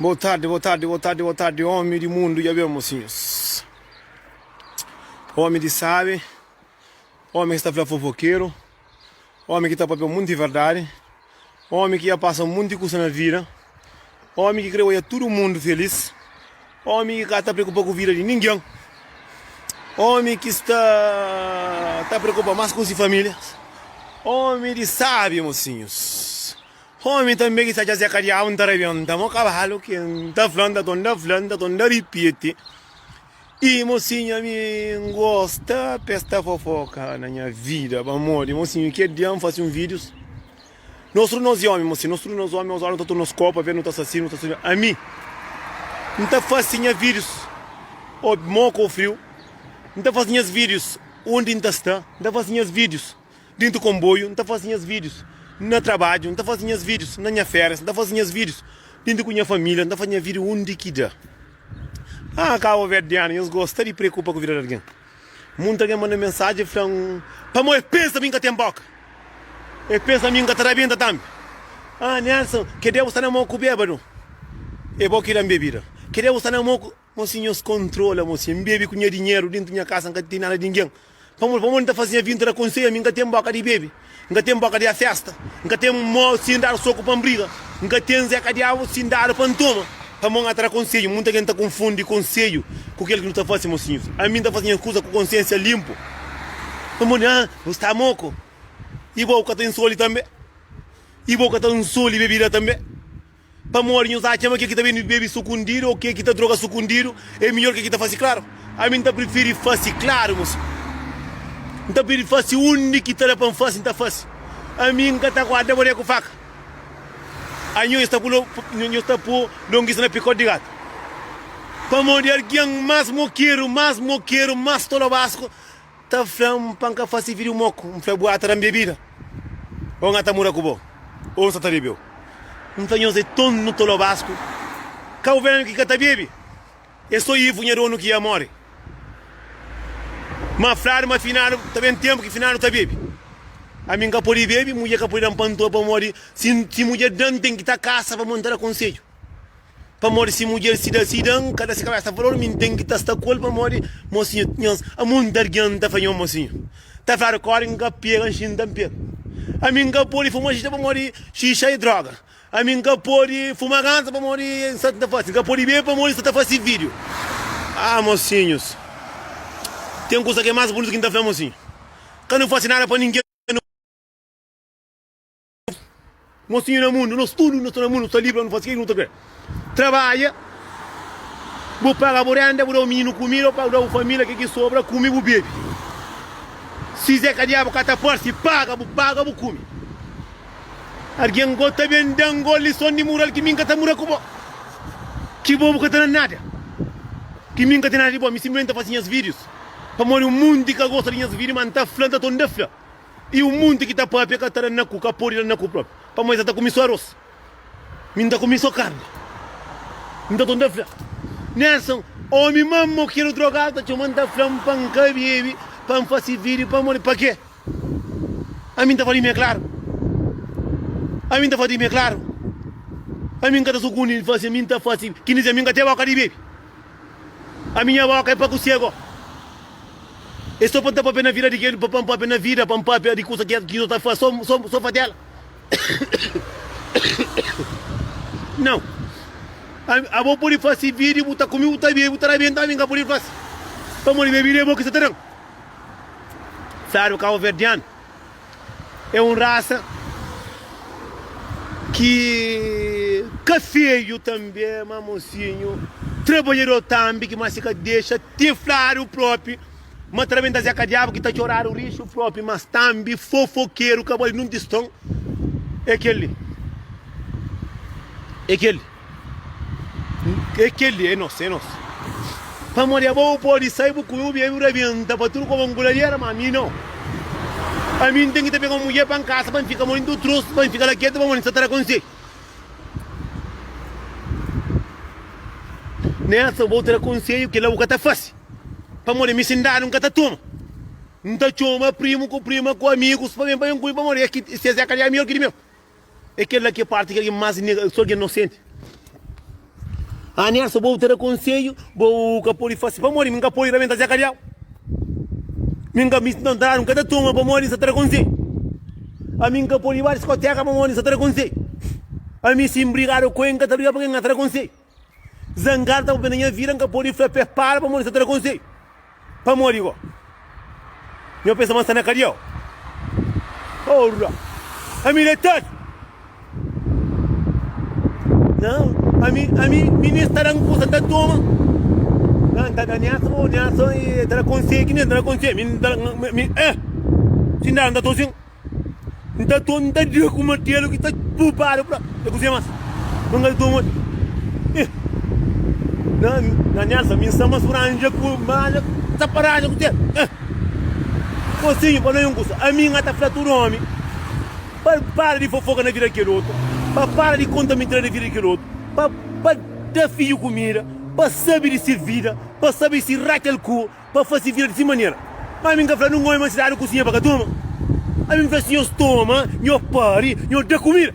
Boa tarde, boa tarde, boa tarde, boa tarde, homem de mundo, já bem, mocinhos. Homem de sabe, homem que está a falar fofoqueiro, homem que está a papel muito de verdade. Ómi ki dja pasa monti kusa na vida Ómi ki krê odja tudu mundu felís Ómi ki ka ta preokupa ku vida di ningen Ómi ki sta ta preokupa más ku si família Ómi di sábi, mosinhus Ómi tanbê ki sta dja seka Diabu N ta rebenta mo kabalu Ken ta fla N ta tonda fla N ta tonda ripiti. Ih mosinha mi N gosta pesta fofoka na nha vida ba modi mosinho kel dia N fasi un videos nos tudu nos e omi mosinho nos tudu nos omi nos omi ta tudu nos kopa ve nu ta sasi nu ta sasi ami N ta fasi nha videos o moka o friu N ta fasi nhas videos undi N ta sta N ta fasi nhas videos. Dintu konboiu nta fasi nhas vidius Na trabadju nta fasi nhas vidius Na nha ferias nta fasi nhas vidius Dintu ku nha familia nta fasi nha vidiu undi ki da Ah kaboverdianu nhas gosta di preokupa ku vida di algen Munti algen manda mensaji flan pamo es pensa mi nka ten boka Es pensa mi nka ta rabenta tambi Ah Nelson kedé bu sta na mo ku bebadu e bo ki da-m bebida kedé bu sta na mo ku. Mo si nhos kontrola mo si N bebe ku nha dinheru dentu nha kasa N ka ten nada di ningen Pamodi pamodi N ta fase nha vida N ta da konseia mi N ka ten boka di bebe N ka ten boka di a festa N ka ten mo si N dadu soku pa N briga N ka ten zé kadiabu si N dadu pa N toma Pamodi N ka ta da konseju Munta gen ta konfundi konseju ku kel ki nu ta fase Mo si nhos ama mi N ta fase nha kusa ku konsiensia linpu Pamodi N gosta mo ko i bo ka ta nsoli tanbe i bo ka ta nsoli bebida tanbe. Pamodi nhos atxa ma ke ki ta ben bebe sukundidu ô ke ki ta droga sukundidu é midjór ke ki ta fase klaru? Ami N ta prifiri fase klaru, mos. N ta prifiri fase undi ki ta da pa N fase, N ta fase. Ami N ka ta guarda bodé ku faka. Anho nhos ta pô-l, nhos ta pô longisa na pikóti di gatu. Pamodi algen más mokeru, más mokeru, más tolobasku ta fla-m pa N ka fase vídiu moku, N fla bu ata da-m bebida ô N ata muda ku bo ô N sta ta bebe-u. N fla nhos é ton nu ta lobasku ka ovelha ki ka ta bebe, é sô ivu nha donu ki amore. Ma fladu ma finadu ta ben tenpu ki finadu ta bebe. Ami N ka pode bebe, mudjer ka pode da-m pantua pamodi si mudjer da-m N ten ki ta kasa pamodi N ta da konsedju. Pamodi si mudjer si da sida N ka da se kabésa valor Mi N ten ki ta sta ku el pamodi mosinhu Nhos a monti algen N ta fla nho mosinhu Ta fla rikorde N ka pega nxi N ta N pega Ami N ka pode fuma xixa pamodi xixa é droga Ami N ka pode fuma ganza pamodi é insetu N ta fase N ka pode bebe pamodi N sta ta fase vídiu Ah mosinhus Ten kusa ki é más bunitu ki N ta fla mosinhu Ka nu fase nada pa ningen Nos tinha na mundu, nos tudu na sta na mundu, nu sta livri pa nu fasi ke ki nu ta kre. Trabadja, bu paga bu renda, bu da bu mininu kumida, bu paga, bu da bu família ke ki sobra, kume, bu bebe. Si Zeka Diabu ka ta parse, paga, bu paga, bu kume. Algen go ta ben dan go lison di mural ki mi N ka ta mura ku bo, ki bo bu ka ta na nada, ki mi N ka ten nada di bo. Mi sinplimenti ta fasi nhas videos pamodi un munti ka gosta di nhas video, ma N ta fla, N ta ton da fla. I un monti ki ta pâpia ka ta da na ku, ka pode da na ku própi. Pamodi N sa ta kume sô arôs, mi N ta kume sô karni, N ta ton ta fla. Nelson, Ómi má mau kel drogadu ta txoma-m ta fla-m pa N ka bebe, pa N fase vídiu. Pamodi? Pakê? Ami N ta fla di mi é klaru. Ami N ta fla di mi é klaru. Ami N ka ta sukundi fase, mi N ta fase. Ki N dize, ami N ka tê bóka di bebe. Ami nha boka é pa ku sego. É so pa nta papia na vida di kel pa npapia na vida pa npapia di kusa ki so ta fas so so so fatela Nau abo pudi fasi vidi bu ta kumi bu ta bibi bu ta rabenta ami nka pudi fasi pamodi bebi de bo ki sa ta dan Sardu kabo verdianu. É un rasa ki ka feju tanbe ma mosinhu trabadjador tanbe ki ma si ka dexa te fladu propi ma ta rabenta zé ka diabu ki ta txoradu rixu propi mas tanbe fofokeru ka bai nunti ston é kel li é kel li. É kel-li, é nos, é nos. Pamodi abo bu pode sai, bu kume, bu bebe, bu rabenta pa tudu koba, N ku ladiera, má ami nau. Ami N ten ki ta pega un mudjer pa N kasa, pa N fika modi N ta u trouxe, pa N fika la ketu pamodi N sta ta da konsedju. Nessa abo ta da konsedju, kel-la bu ka ta fase, pamodi ami sin dadu N ka ta toma. N ta txoma primu ku prima, ku amigus pa ben pa ben ku mi, pamodi es é ka dja mior ki di meu. É kel la ki é párti ki algen más nega el, sô algen inosenti. Anersa, bo ta da konsedju, bo ka pode fase. Pamodi mi N ka pode rabenta se kadiau. Mi N ka misti ta ntradu, N ka ta toma pamodi N sta ta da konsedju. Ami N ka pode ba diskoteka pamodi N sta ta da konsedju. Ami si N brigadu ku el, N ka ta brigadu pamodi N ka ta da konsedju. Zangadu ta papia na nha vida, nka podi fla p'é para pamodi sa ta da konsedju. Pamodi go? Nho pensa ma n sta na kadia o? Porra! Ami detadu! Nau, ami, ami, mi nen sta da n kusa ta toma. Nau, n ta da Nelson, o Nelson ta da konsegi, mi nen ta da konsegi, mi, mi, eh! Txindadu, n ta tosi-m. Nta ton nta dia ku matelu ki ta pupadu pra e kuzia mas mangal ton oi eh na na nelsa mi nsa mas franja ku malha ta paraja ku tel eh osinho pa noi un kusa ami nga ta fla tudu omi pa para di fofoka na vida di kel otu pa para di konta mintra na vida di kel otu pa pa da fiju kumida pa sabi di si vida pa sabi si rakel ku pa fase vida di si manera. Má ami N ka fla nun ómi ma si dadu kusinha pa ka toma. Ami N fla, si nhos toma, nho pari, nho da kumida.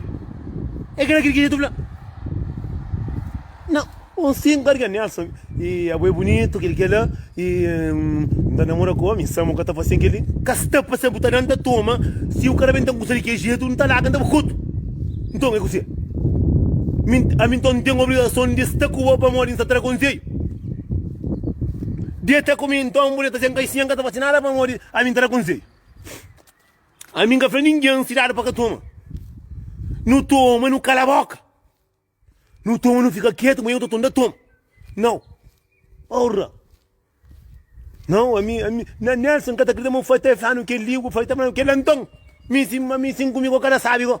É kela ki Riquinha ta fla. Nau, N sin ka riga Nelson. I abo é bunitu, kel i kel la. I N ta namora ku ómi. Samu ka ta fasen kel-li. Ka sta pa sa bu ta da-m ta toma. Si bu ka da-m N ta kusa di ki jetu, N ta laga, N ta ba kotu. Nton, é ku se. Mi, ami nton N ten obrigason di sta ku bo pamodi N sta tra konseiu. Deta ku mi nton, bu deta sen kai si N ka ta fasi nada pamodi ami N ta da konseiu Ami N ka fla ningen si dadu pa ka toma Nu toma nu kala boka Nu toma nu fika ketu ma eu ta tonda toma Nau Ora Nau ami ami na Nelson N ka ta kridita ma bu fai ta fla-nu kel-li bu fai ta fla-nu kel-la nton Mi si ami si N ku mi ko ka ta sabi ko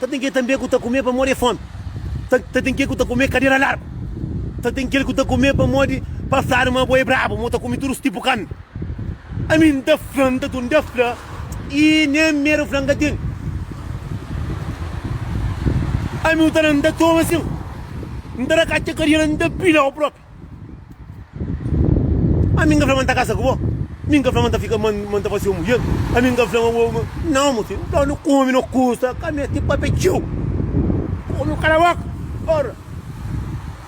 Ta ten kel tanbe ku ta kume pamodi é fómi, ta ten kel ku ta kume kadera largu, ta ten kel ku ta kume pamodi pasadu ma bo é brabu, ma bu ta kume tudu es tipu karni. Ami N ta fla, N ta tun ta fla i nen medu fla N ka ten. Ami utana N ta toma sin, N ta da katxa kariera, N ta pila-u prop. Ami n ka fla ma N ta kasa ku bo, mi n ka fla ma N ta fika, ma N ta fase-u mudjer, ami n ka fla ma bo, ma. Nau, mo fidju, N fla-u, Omi no kusta, ka mete pape txeu. Omi kala boka. Ora,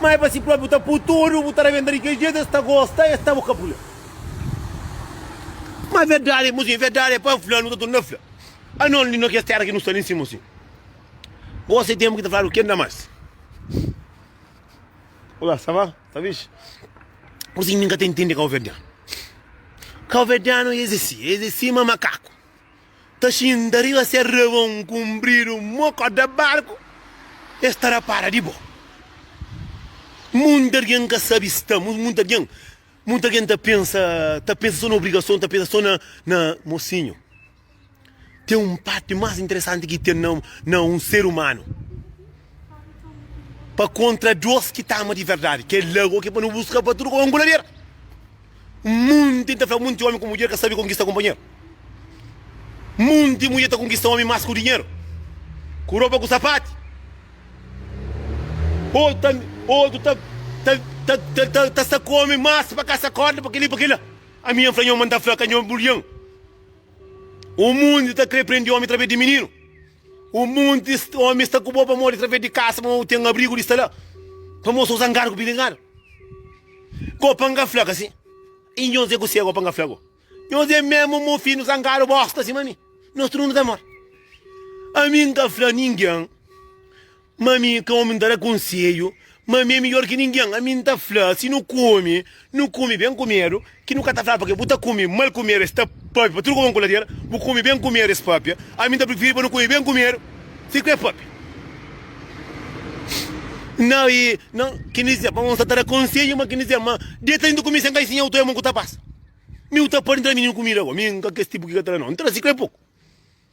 mai pa si propi bu ta pui tudu, bu ta rabenta di kel jetu, es ta gosta, es ta bu kapula. Ma verdadi, mo fidju, verdadi e pa N fla-u, nu ta torna ta fla, anos li na kes tera ki nu sta li, n sti, mo fidju, gosi e tenpu ki ta fladu, ken da mas. Olá, ça va? Tá fixe? Por sim nunca tem entender calverdiano. Calverdiano é esse, é esse ma macaco. Tá xinda riba se rabão comprido, moco da barco, estará para de boa. Muita alguém que sabe estamos, muita alguém, muita alguém tá pensa, tá pensa só na obrigação, tá pensa só na, na mocinho. Ten un párti más interesanti ki ten na un ser umanu. Pa kontra dôs ki ta ama di verdadi, kel-la ô ki pa nu buska pa tudu konku lader. Monti ta fla monti ómi ku mudjer ka sabe konkista kunpanheru. Monti mudjer ta konkista ómi más ku dinheru, ku ropa, ku sapati. Otu ta sta ku ómi más pa kasa kórda, pa kel-li, pa kel-la. Ami N fla nho ma N ta fla ka nho bulhan. O mundi ta kre prendi omi través di mininu. O mundi omi sta ku bo pamodi través di kasa ma o ten abrigu di sta la. Pamo so zangadu ku bilingadu. Ko panga fla kasi. I nhos e ku segu panga fla go. Nhos e memu mo finu zangadu bosta sima mi. Nos tudu nu ta mor. Ami nka fla ningen Ma ami, ka omi N ta da konsedju, ma ami é midjór ki ningen. Ami N ta fla, si nu kume, nu kume ben kumedu, ki nu ka ta fla, Pâpia, bu ta kume mal kumedu, es ta pâpia pa tudu kau ku ladera, bu kume ben kumedu, es pâpia. Ami N ta prifiri pa nu kume ben kumedu, si ku é pâpia. Na, na, ki N dizê, ma N sta ta da konsedju, ma ki N dizê, ma deta li, N ta kume sen kai, si nha uta é mon ku ta pasa. Mi uta pâdi N tra mininu kumida, bo, ami N ka kes tipu ki ka ta da nau, N trazi, ku é poku.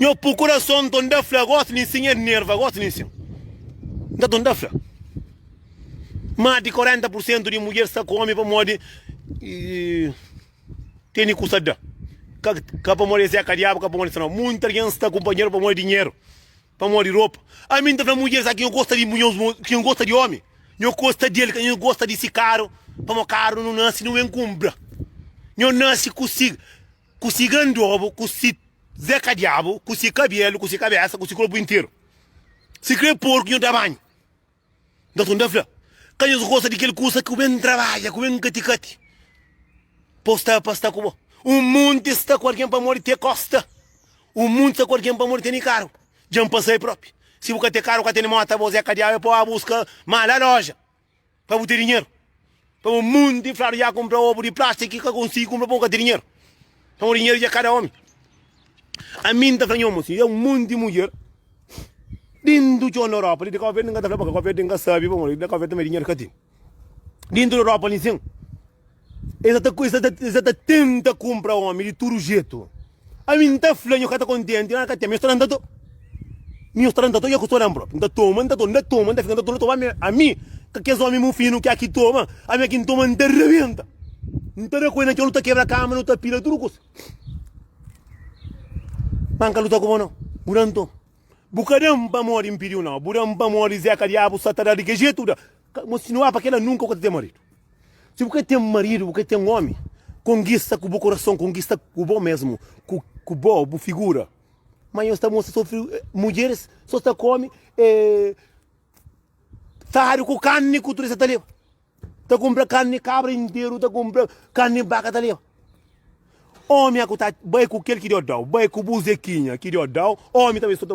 Nho pu kurason ton da fla gosi nin sin el nerva gosi nin sin nta ton da fla mas di 40% di mudjer sta ku omi pamodi teni kusa da ka pamodi es é ka diabu ka pamodi es é no munti algen sta ku kunpanheru pamodi dinheru pamodi ropa ami nta fla mudjer sa ki nho gosta di ki nho gosta di omi nho gosta di el ka nho gosta di si karu pamodi karu nu nasi nu ben kunpra nho nasi ku si. Ku si gandobu, ku si Zé Kadiabu, ku si kabelu, ku si kabesa, ku si korpu interu. Sikrê porku nhos da banhu. Nta tunda fla, ka nhos gosta di kel kusa ki bu ben trabadja, ku ben kati-kati pa-u sta, pa sta ku bo. Un monti sta ku algen pamodi te kosta, un monti sta ku algen pamodi tene karu. Dja N pasa el propi. Si bu ka te karu, ka tene mota, bo Zé Kadiabu, é pa-u ba buska ma la loja. pa bu ten dinheru pa bu mundi fladu ya kunpra obu di plastik ki ka konsigi kunpra pon ka ten dinheru pamo dinheru dja kada omi ami nta fla nhoma si ya un monti di mudjer dintu txon na europa li di kabaverde nka ta fla pa kabaverde nka sabi pamo di kabaverde dinheru ka ten dintu europa li nsin Es sa ta, es sa ta, es sa ta tenta kumpra omi di tudu jetu. Ami n ta fla, nho ka ta kontenti, nada ka ten, ma nho sta dan, ta to. Nho sta dan, ta to, nha ku sta dan propi. N ta toma, n ta to, n ta toma, n ta fika, n ta to, n ta toma. Ami, ka kes omi mufinu ki aki toma, ami aki n toma, n ta rebenta. N ta da ku el na txon, nu ta kebra kama, nu ta pila tudu kusa. Ma N ka luta ku bo nau, bu dan toma. Bu ka dan pamodi N pidiu nau, bu dan pamodi Zeka Diabu sa ta da di ke jetu bu da. Mostinua pa kela nunka bu ka ta ten maridu. Si bu ka ten maridu, bu ka ten omi, konkista ku bu korason, konkista ku bo mesmu, ku bo, bu figura. Ma nhos ta mostra so mudjeris so sta kome fadu ku karni ku turista ta leba. Ta kumpra karni kabra interu, ta kumpra karni baka ta leba. Omi aku ta bai ku kel ki Deus dau, bai ku bu Zekinha ki Deus dau, omi ta bai so ta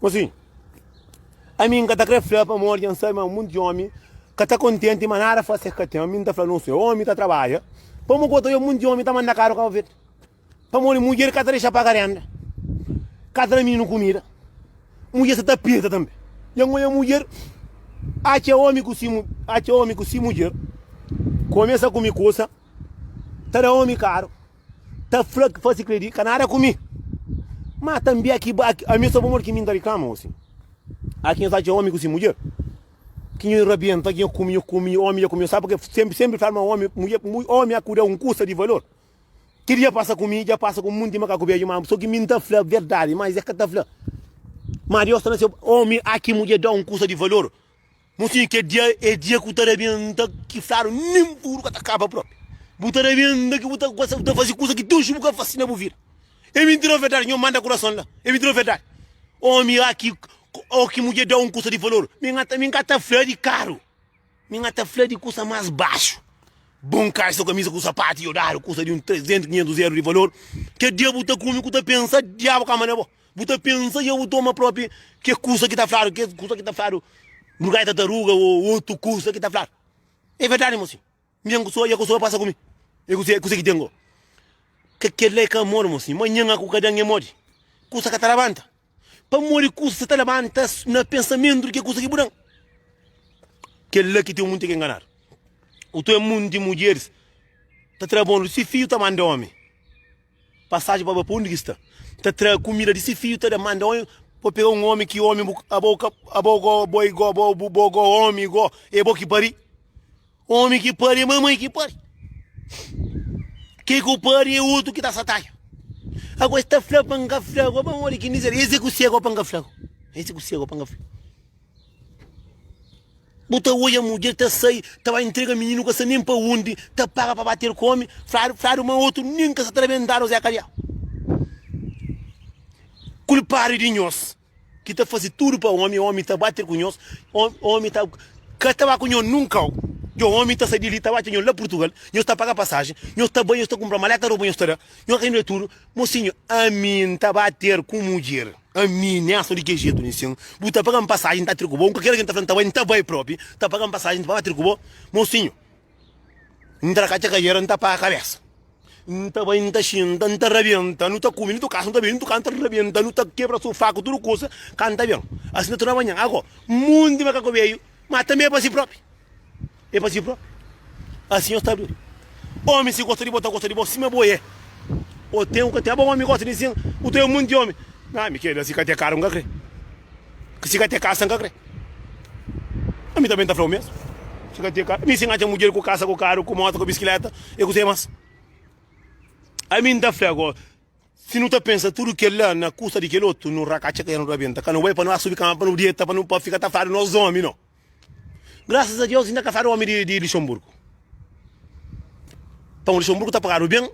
Gosi, ami N ka ta krê fla pamodi dja N sabe ma monti di ómi ka ta kontenti ma nada fase es ka ten. Ami N ta fla nos é ómi ta trabadja. Pamodi ki bo ta wê monti di ómi ta manda karu Kabu Verdi? Pamodi mudjer ka ta dexa paga rénda, ka ta da mininu kumida, mudjer sta ta pirta tanbê. Dja N odja mudjer, atxa ómi ku si, atxa ómi ku si mudjer, kumesa kume kusa, ta da ómi karu. Ta fla ki fasi kredi ka nada ku mi Ma tanbi aki ba aki Ami sa pamodi ki mi n ta riklama osi Aki nhos atxa omi ku si mudjer Ki nho rabienta ki nho kume nho kume nho omi dja kume-l Sabe purkê senpri senpri fla-l ma omi mudjer omi aku da un kusa di valor Kel dja pasa ku mi dja pasa ku munti makaku bedju ma so ki mi n ta fla verdadi ma es é ka ta fla Ma Deus sta na seu omi aki mudjer da un kusa di valor. Mon sinhu, kel dia é dia ki bu ta da ben nda ki fladu nen puru ka ta kaba propi. Bu ta da ben nda ki bu ta gosta, bu ta fasi kusa ki Deus bu ka fasi na bu vida. É mintira o verdadi? Nho manda kurason la. É mintira o verdadi? Omi a ki o ki mudjer da un kusa di valor, mi nha ta mi ka ta fla di karu, mi nha ta fla di kusa mas baxu. Bon kalsa, kamisa ku sapatu i odadu, kusa di un 300, 500 eru di valor. Kel dia bu ta kume ku ta pensa, diabu ka manda bo. Bu ta pensa i abu toma propi ke kusa ki ta fladu, ke kusa ki ta fladu lugar di tataruga o otu kusa ki ta fladu. E verdadi mo sin. Mi ben ku soa i e ku soa pasa ku mi. E kuse, kuse ki ten go? Ke kela e ka modi mo sin. Manhan aku ka den e modi. Kusa ka ta labanta. Pamodi kusa ta labanta na pensamentu di ke kusa ki bu dan. Kela ki ten munti ke nganadu. Utu e munti mudjeris ta tra bon, si fiju ta manda omi. Pasaji pa ba pa undi ki sta. Ta tra kumida di si fiju, ta da, manda un pa pega un omi ki omi bu abo ka abo go bo i go bo bu bo go omi i go e bo ki pari omi ki pari e mamai ki pari ke ku pari e utu ki ta sataja ago e sta fla pa n ka fla go ba n odi ki n dize el ese ku sega o pa n ka fla go ese ku sega o pa n ka fla. Bu ta odja mudjer ta sai, ta bai entrega mininu ka sa nem pa undi, ta paga pa bater ku omi, fladu, fladu ma otu nem ka sa ta da bendadu o zé kariá. Kulpadu di nhos ki ta fazi tudu pa omi, omi ta bater ku nhos, omi ta ka ta ba ku nhos nunkau, djo omi ta sai di li ta ba txeu nhos la purtugal, nhos ta paga pasaji, nhos ta bai, nhos ta kumpra maleta, roba nhos ta da, nhos ta inda tudu, mosinhu ami nta bater ku mudjer. Ami nen aso di ke jetu nen sin bu ta paga-m pasajen ta atri ku bo un kalker algen ta fla-m nta bai nta bai propi nta paga-m pasajen nta ba atri ku bo mosinho ntra ka txakadera nta paga kabesa nta bai nta xinta nta rabienta nu ta kumi nu tuka aso nu ta bini nu tuka nta rabienta nu ta kebra sofá ku tudu kusa ka nta ben asin ta torna manhan ago munti makaku beiu ma tanbe pa si propi. E pa si própi, Asin nhos ta duri. Ómi, si gosta di bo, ta gosta di bo sima bo é. O ten u ka ten. Aba ómi gosta di sin, u ta é munti ómi. Na mi keda, si ka te karu n ka kre. Si ka te kasa n ka kre. Ami tanbe n ta fla o mesmu. Si ka te karu, mi si n atxa mudjer ku kasa, ku karu, ku mota, ku biskileta e kusé mas. Ami n ta fla go, si nu ta pensa tudu kel la na kusta di kel otu, nu ra ka atxa ka el nu rabenta. Ka nu bai pa nu asubi kama pa nu dieta, pa nu pa fika ta fadu nos ómi no. Graças a Deus ainda ka fada homem de Luxemburgo. Pão de Luxemburgo ta pagado bem.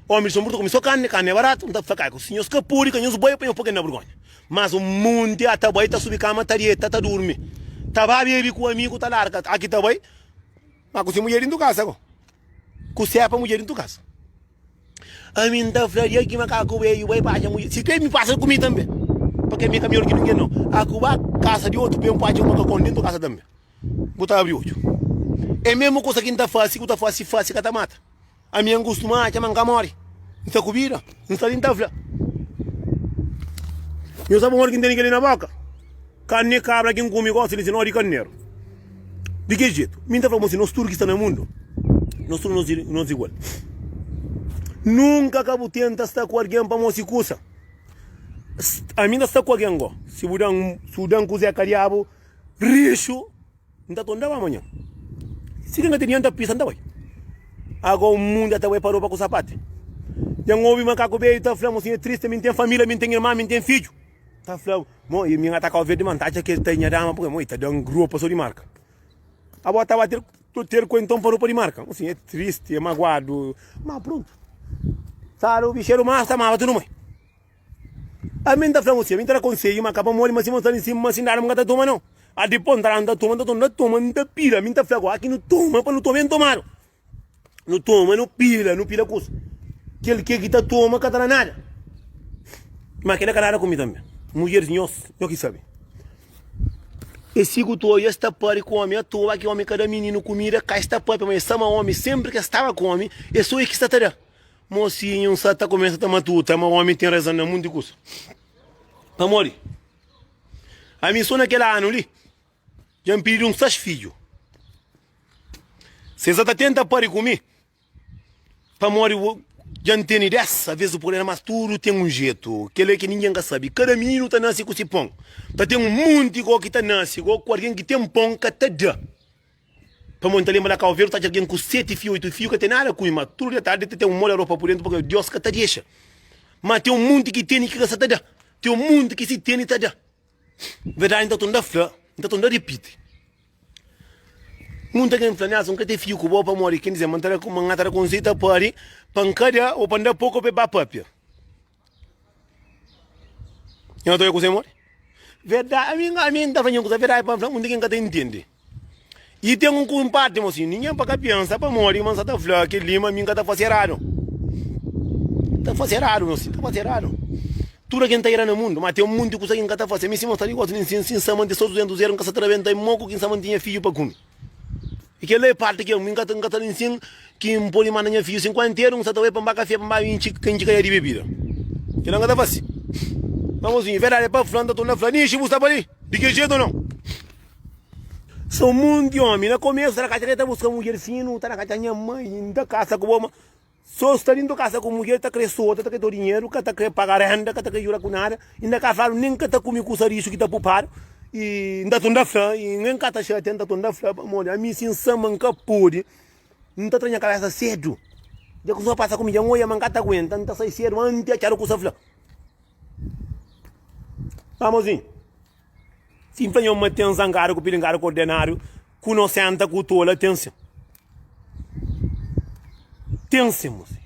Homem de Luxemburgo ta come só carne, carne é barato. Então fala cai, se nhos ka pode, ka nhos bai, pa nhos pôr na bergonha. Mas um monte a ta bai, ta subi cama, ta deita, ta durmi. Ta ba bebe ku amigo, ta larga. Aki ta bai, mas ku se mulher dentro casa ko. Ku sepa mulher dentro casa. Ami N ta fla di aki ma ka ku be yu bai pa atxa mudjer. Si pe mi pasa ku mi tambe, pa ke mi ka mior ki ningen no. A ku ba kasa di otu pe N ku atxa un makakon dentu kasa tambe. Bu ta abri odju. E mesmu kusa ki N ta fasi, ku ta fasi fasi ka ta mata. Ami N kustuma atxa ma N ka mori. N sta ku bida. N sta li N ta fla. Nhos sabe un ora ki N tene keli na boka? Karni di kabra ki N kume gosi di si, no di karneru. Di ki jetu? Mi N ta fla bo si, nos tudu ki sta na mundu, nos tudu nos di nos igual. Nunka ka bu tenta sta ku algen pa mose kusa. Ami N ta sta ku algen go, si bu dan, si bu dan kuze ka diabu, rixu, N ta tonda bu amanhan. Si algen ka ten dienta pisa, N ta bai. Ago un mundu ya ta bai pa ropa ku sapati. Dja N obi makaku beju ta fla mo si, N e triste, mi N ten familia, mi N ten irman, mi N ten fiju. Ta fla mo e mi nga ta kau verde man ta atxa kel ta e nha dama pui mo e ta dan gropa so di marka abo ta ba ter to ter ku enton pa ropa di marka mo sim e tristi e maguadu ma pruntu saro bicheru ma ta maba tudu moi a mi ta fla mo sim a mi ta da konseju ma ka pa modi ma si mo sta li nsima ma si ndada mi ka ta toma no a dipos nta la nta toma nta toma nta toma nta pira mi ta fla go aki nu toma pa nu toma ben tomadu Nu toma, nu pila, nu pila kusa. Kel ke ki ta toma ka ta na nada. Ma kila ka nada ku mi tanbe. Mudjeris nhos, nho ki sabe. Es sigu tu oja, es ta pâpia ku omi atoa, ki omi ka da mininu kumida ka. Es ta pâpia, ma es sa ma omi senpri ki es staba ku omi, es so e ki sa ta da. Mosinhu N sa ta kumesa ta matuta ma omi ten razon na monti kusa. Pamodi ami so na kel anu li. Dja N pidi-l un sas fidju. Si es sa ta tenta pâdi ku mi, pamodi dja N tene dés, alvês bu pode. Mas tudu ten un jetu, kel-li ki ningen ka sabe. Kada mininu ta nase ku se pon. Ta ten un monti gó ki ta nase, gó ku algen ki ten pon ka ta da. Pamodi N ta lenbra la Kabu Verdi ta atxa algen ku seti fiju, oitu fiju ka ten nada ku mi. Má tudu dia tardi ta ten un móda ropa pur déntu pamodi Deus ka ta dexa. Má ten un monti ki tene i ki ka sa ta da. Ten un monti ki si tene ta da. Verdadi, N ta torna fla, N ta torna ripiti. Nunta ken fla-m nhas, N ka ten fidju ku bo pamodi ken dize ma N ta da, ma nha ta da konsei ta pari pa N ka da, o pa N da poku pa e ba papia. Nhas ta oja kuzê modi? Verda, ami, ami N ta fla nhen kuza verdadi pa N fla, nunta ken ka ta intendi. I ten un kunpadi mo si ningen pa ka pensa pamodi ma nsa ta fla kel li ma mi nka ta fase eradu ta fase eradu mo si ta fase eradu tudu algen ta era na mundu ma ten monti kusa ki nka ta fase mi si mo sta nigosu nin si nsa mante so duzentus era nka sa ta rabenta i mo ku ki nsa mante nha fiju pa kumi i kel la e parti ki nka nka ta nin sin ki npodi manda nha fiju sin ku anteru nsa ta bai pa nba kafia pa nba intxi ka intxi kadia di bebida kel la nka ta fase ma mozinhu verdadi pa fla nta tunda fla nixi bu sta pali di kel jetu o non. Sou um monte de homem. Na começo, tá na casa, quer tá buscar mulher fino, tá na casa, minha mãe, ainda casa com boma. Só está dentro de casa com mulher, tá querer solta, tá querer teu dinheiro, cá tá querer pagar renda, cá tá querer jurar com nada. Ainda cá falo, nem cá tá comer com isso que tá poupado. E ainda tu ainda fala, e nem cá tá cheio, ainda tu ainda fala, pelo amor de Deus, a mim sim samba, nunca pôde. Não tá tranha cabeça cedo. Já que o senhor passa comigo, já não olha, mas cá tá aguenta, não tá sai cedo, antes é tchau com o senhor fala. Vamos, sim. Sin fla nhon ma ten zangada ku pilingada ku ordenáriu ku nosenta ku tola ten sin. Ten sin muse.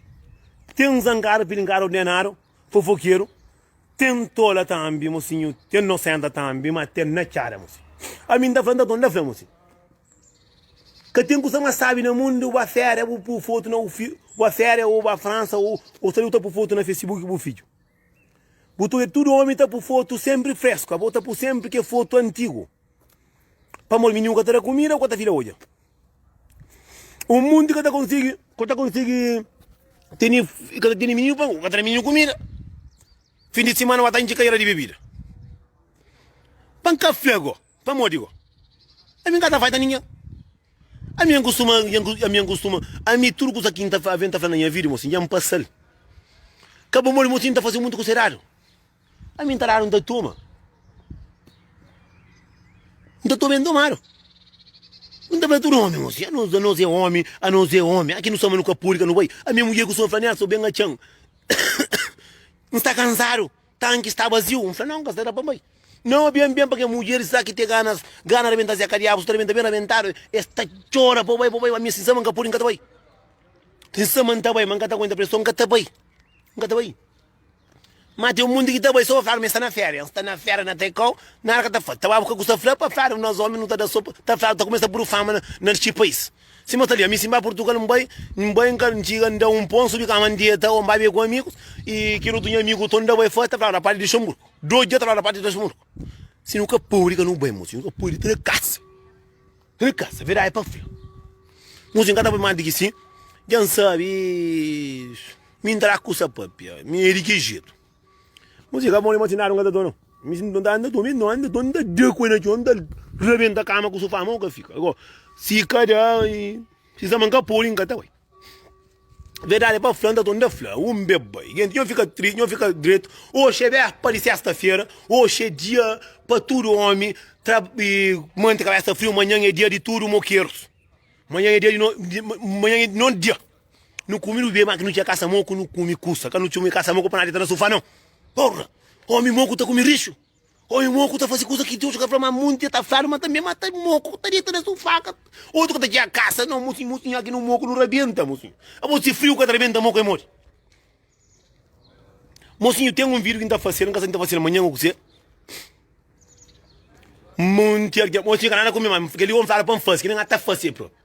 Ten zangada, pilingada, ordenáriu, fofokeru, ten tola tambi musinhu, ten nosenta tambi ma ten na txada muse. Ami nta fla nta ton nta fla muse. Ka ten kusa ma sabi na mundu bu ba féria bu pu fotu na bu fidju, bu ba féria o bu ba fransa o sa li bu ta pu fotu na fesibuki bu fidju. Bu ta wê tudo omi ta pu foto sempri fresku abo ta pu sempri ke foto antigu pamodi mi nunka ta da kumida ku ta fila odja un munti ka ta konsigi ku ta konsigi teni ka ta teni mininu pamodi ka ta da mininu kumida fin di simana ba ta intxi kadera di bebida pa nka fla go. Pamodi go? Ami nka ta faita ningen. Ami N kustuma, ami N kustuma, ami tudu kusa ki N ta aven ta fla na nha vida, mosi, nha N pasal. Ka pamodi mosi N ta fase mutu kusa eradu. Ami N ta dadu, N ta toma. N ta toma e N tomadu. N ta fla tudu omi, mosi, anos, anos e omi, anos e omi, aki nu sta ma nu ka podi ka nu bai. Ami nha mudjer kustuma fla ami, ah, so ben atxan, N sta kansadu. Tanki sta baziu. N fla, Nau, N ka sta da pa N bai. Nau, ben, ben pa ke mudjeris sta ki te ganas, gana rabenta Zé. Ka diabus, ta rabenta ben rabentadu. E sta txora pa N bai, pa N bai. Ma mi sinsama N ka pudi, N ka ta bai. Sinsama N ta bai, ma N ka ta aguenta preson, N ka ta bai, N ka ta bai. Ma ten munti ki ta bai so pa Flávio, ma e sta na féria. N sta na féria na ta kau, nada ka ta fla. Ta ba bu ke ku sta fla pa Flávio, nos omi nu ta da so pa, ta Flávio ta kumesa pudi fama na, na txi pais. Si ma ta lia, mi si nba purtugal nbai, nbai nka ntxiga nda un ponsu di kama ndeta o nba be ku amigus i kel otu nha amigu to nda bai fas ta flaba na parti di Luxemburgu, dos dia ta flaba na parti di Luxemburgu. Si nu ka podi ka nu bai musi, nu ka podi ta na kasa, ta na kasa, verdadi pa fla. Musi nka ta bai mas di ki si, dja nsabi mi nta da kusa papia, mi e di ki jetu. Mon si ka bon mon si nada nka ta dona mi si nta anda dome no anda dome nta da ku el na chon nta rabenta kama ku sofá mon ka fika ago si ka da si sama nka podi nka ta bai verdade pa fla nta ton nta fla un be bai gente nho fika triste nho fika dreto oxe be pa di sesta fera oxe dia pa tudo homem tra manti kabesa frio manhan é dia di tudo moqueiros manhan é dia di no manhan é di no dia. Nu kume nu bebe ma ki nu txia kasa moku nu kume kusa ka nu txume kasa moku pa na deta na sufá nau porra omi moku ta kume rixu omi moku ta fase kusa ki deus ka fla ma munti ta fladu ma tanbe ma ta moku ta deta na sufá ka otu ka ta txia kasa nau mosi mosi nha ki nu moku nu rabenta mosinhu abo si friu ka ta rabenta moku é modi mosinhu ten un vidu ki n ta fasel n ka sabe si n ta fasel manhan o ku ser munti algen mosi ka nada kume ma kel li omi fladu pa n fase ki ne nha ta fase propi.